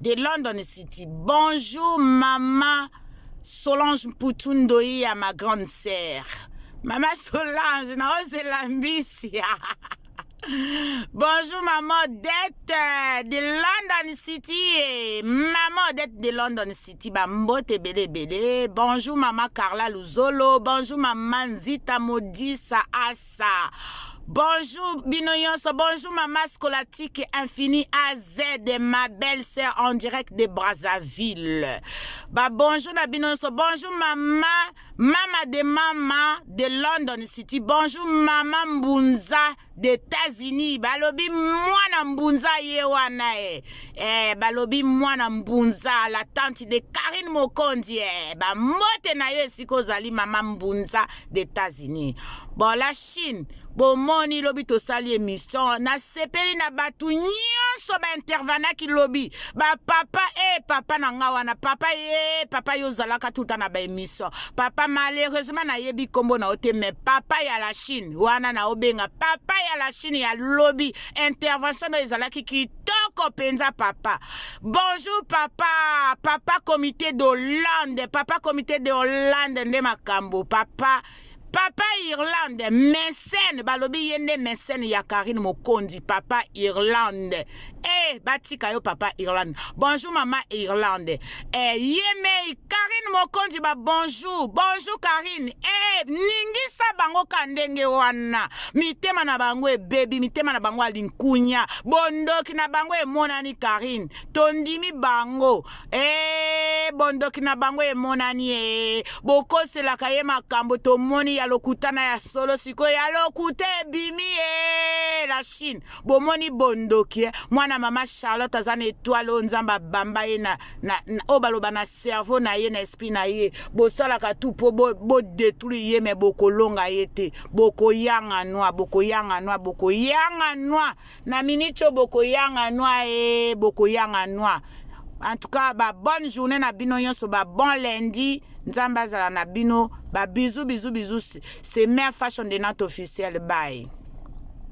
de London City. Bonjour maman Solange Mputu Ndoia, ma grande sœur. Maman Solange, na ozela mbisi. Bonjour maman Odette euh, de London City. Eh. Maman Odette de London City. Ba mbote bele bele. Bonjour maman Carla Luzolo. Bonjour maman Zita Modisa Asa. Bonjour bino yonso, bonjour mama scolastique infini AZ, ma belle sœur en direct de Brazzaville. Ba bonjour na bino yonso, bonjour mama, mama de mama de London City, bonjour mama Mbunza de États-Unis. Balobi mwana Mbunza ye wana eh. Eh, balobi mwana Mbunza la tante de Karine Mokonzi eh. Ba mbote na yo esika ozali mama Mbunza d'Etats-Unis. Bon, la Chine, bomoni lobi tosali emission, nasepeli na bato nyonso baintervanaki lobi, bapapa e eh, papa na nga wana, papa ye, eh, papa yo ozalaka tuta na baemission, papa malheureusement nayebi nkombo na yo te, mais papa ya la Chine wana naobenga papa ya la Chine ya lobi, intervention na ezalaki ki kitoko penza papa bonjour papa papa comité de hollande papa comité de hollande nde makambo papa papa irlande mesene balobi ye nde mesene ya karine mokonzi papa irlande e eh, batika yo papa irlande bonjour mama irlande Eh, yemei Karine Mokonzi ba bonjour bonjour Karine eh, ningisa bango ka ndenge wana mitema na bango ebebi mitema na bango alinkunya bondoki na bango emonani Karine tondimi bango eh, bondoki na bango emonani eh, bokoselaka ye makambo tomoni ya lokuta na ya solo sikoyo ya lokuta ebimi eh, la Chine bomoni bondoki eh? mwana mama charlotte aza na etoile oyo nzambe abamba ye na, na, na oyo baloba na cerveau na ye na esprit na ye bosalaka tu mpo bodetruire bo ye me bokolonga ye te bokoyanga nwa bokoyanga nwa bokoyanga nwa na miniti oyo bokoyanga nwa e eh, bokoyanga nwa en tout cas ba bonne journée na bino nyonso ba bon lundi nzambe azala na bino ba bizu bizu bizu c'est mère fashion de nante officielle bye